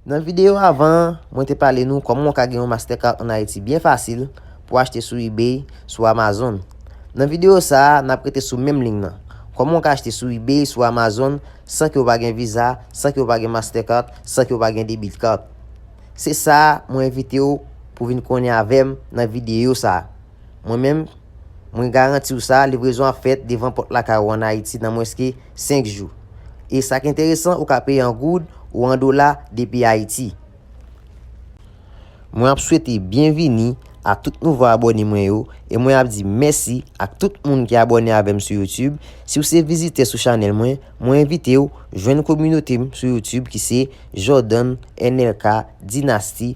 Nan video avan an, mwen te pale nou kòman ou ka gen yon Mastercard an Ayiti byen fasil pou achte sou ebay, sou Amazon. Nan video sa a, nap rete sou menm liy nan. Kòman ou ka achte sou ebay, sou Amazon san ke ou pa gen Visa, san ke ou pa gen Mastercard, san ke ou pa gen Debit Card. Se sa mwen envite ou pou vin konnen avèm nan video sa a. Mwen menm, mwen garanti w sa, livrezon ap fèt devan pòt lakay ou an Ayiti nan mwenske 5 jou. E sa k enteresan, ou ka peye an goud ou an dola depi Ayiti. Mwen ap swete byenvini a tout nouvo abòne mwen yo e mwen ap di mèsi ak tout moun ki abòne avè m sou YouTube. Si w se vizitè sou chanèl mwen, mwen envite w jwenn kominote m sou YouTube ki se Jordan NLK Dynasty.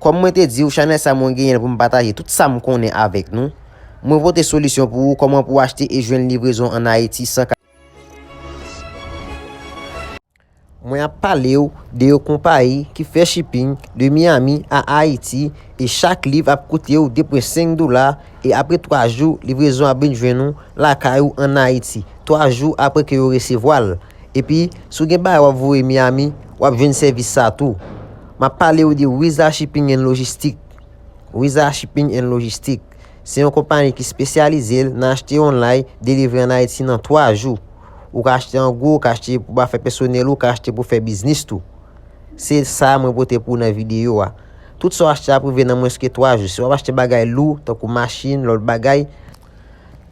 Kòm mwen te diw chanèl sa mwen genyenl poum pataje tout sam konnen avèk nou. Mwen pote solisyon pou ou kòman pou achte e jwenn livrezon an Ayiti san Mwen ap palew de yo konpayi ki fè shipping de Miami a Ayiti e chak liv ap koutew 2 pwen 5 dola e apre 3 jou livrezon ap vin jwenn ou lakay ou an Ayiti 3 jou apre ke yo resevwal. Epi si w gen bagay wap voye Miami wap jwenn sèvis sa tou. Map pale ou de Wiza Shipping and Logistic. Wiza Shipping and Logistic se yon konpani ki spesyalize l nan achte onlay, delivre an Ayiti nan 3 jou. Ou ka achte an gwo, ou ka achte pou afè pèsonèl ou, ou ka achte pou fè biznis tou. Se sa mwen pote pou ou nan videyo a. Tout sa w achte ap rive nan mwens ke 3 jou. Si wap achte bagay lou, tankou machin, lòt bagay,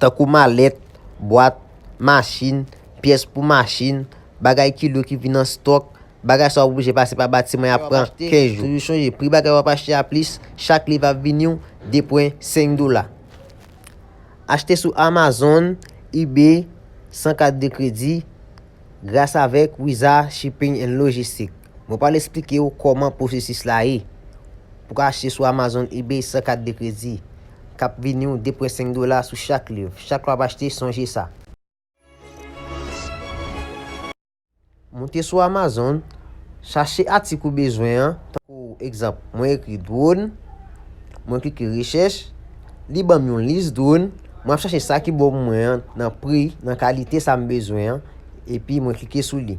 tankou malèt, bwat, machin, pyès pou machin, bagay ki lou ki vin an stòk, Bagay sa w oblije pase pa batiman y ap pran 15 jou. Toujou chonje pri bagay w ap achte a plis chak liv ap vini w 2,5 dola. Achte sou Amazon, Ebay, san kat de kredi, gras avèk Wiza Shipping and Logistic. Mwen pral esplike w kòman pwosesis la ye pou ka achte sou Amazon, Ebay san kat de kredi k ap vini w 2,5 dola sou chak liv. Chak lè w ap achte sonje sa. Moute sou Amazon, chache atik ou bezwen an, tankou egzanp mwen ekri drone, mwen klike rechèch, li banm yon lis drone, mwen ap chache sa ki bon pou mwen an nan pri, nan kalite sa m bezwen an, epi mwen klike sou li.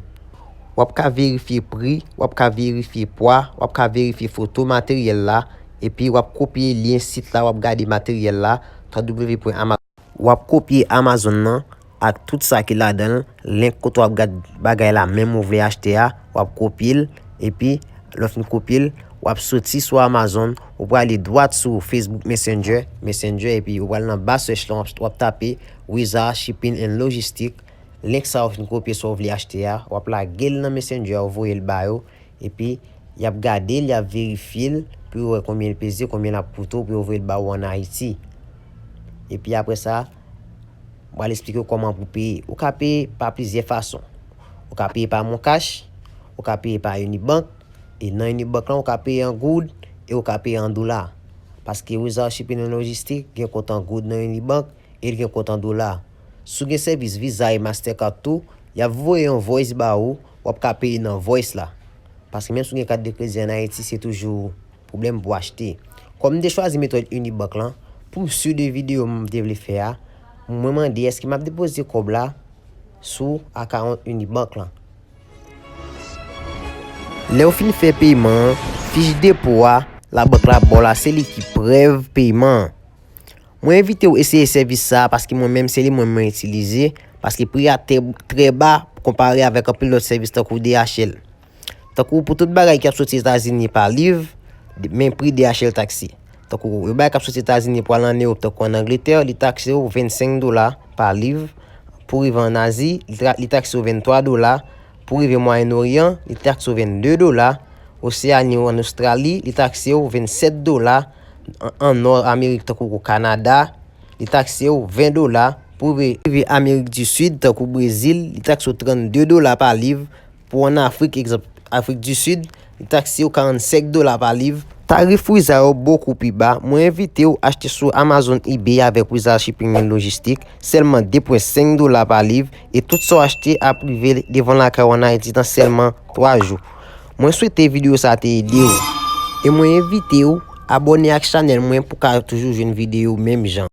Wap ka verifye pri, wap ka verifye pwa, wap ka verifye foto materyèl la, epi wap kopye lyen sit la wap gade materyèl la, www.amazon. Wap kopye Amazon nan ak tout sa ki ladanl link kote wap gad bagay la menm ou vle achte a wap kopyel epi lè ou fin kopyel wap soti sou Amazon ou prale dwat sou Facebook Messenger Messenger epi ou pral nan ba search lan wap tape Wiza Shipping and Logistic link sa ou fin kopye sa ou vle achte a wap lagel nan Messenger ou voyel ba yo Epi, y ap gade l, y ap verifye l pou yo wè konbyen l peze, konbyen l ap koute w pou yo voye l ba ou ann Ayiti. Epi apre sa, m pral esplike w kòman pou w peye. Ou ka peye pa plizyè fason. Ou ka peye pa moncash, ou ka peye pa Unibank, e nan Unibank lan ou ka peye an goud e ou ka peye an dola. Paske Wizarship Inno'Logistic gen kont an goud nan Unibank e l gen kont an dola. Si w gen sèvis Visa e Mastercard tou, y ap voye yon voice ba ou, w ap ka peye nan voice la. Paske menm si w gen kat de kredi an Ayiti se toujou pwoblèm pou achte. Kòm m te chwazi metòd Unibank lan, pou m sur de videyo m te vle fè a, mwen mande èske m ap depoze kòb la sou akawont Unibank lan. Lè w fin fè peyiman an, fich depo a labank la ba w la se li ki prèv peyiman an. Mwen envite w eseye sèvis sa a paske mwen menm se li mwen mwen itilize paske pri a trè ba konpare avèk anpil lòt sèvis tankou DHL. Tankou pou tout bagay ki ap soti Etazini pa liv, men pri DHL taksi. Tankou yo bagay k ap soti Etazini pou al an Ewop tankou an Angletè, li takse w 25 dola pa liv, pou rive an Azi, li takse w 23 dola, pou rive Mwayen Oryan, li takse w 22 dola, Oseani ou an Ostrali, li takse w 27 dola. an nò Amerik tankou o Kanada, li takse w 20 dola, pou w rive Amerik di Sid tankou Brezil, li takse w 32 dola pa liv, pou w an Afrik, egzanp, Afrik di Sid, li takse w 45 dola pa liv. Tarif wiza yo bokou pi ba, mwen envite w achte sou Amazon Ebay avèk Wiza Shipping and Logistic, sèlman 2.5 dola pa liv, e tout sa w achte ap rive devan lakay w an Ayiti nan sèlman 3 jou. Mwen swete video sa te ede ou. E mwen envite ou abone ak chanel mwen pou ka toujou jwenn video menm jan.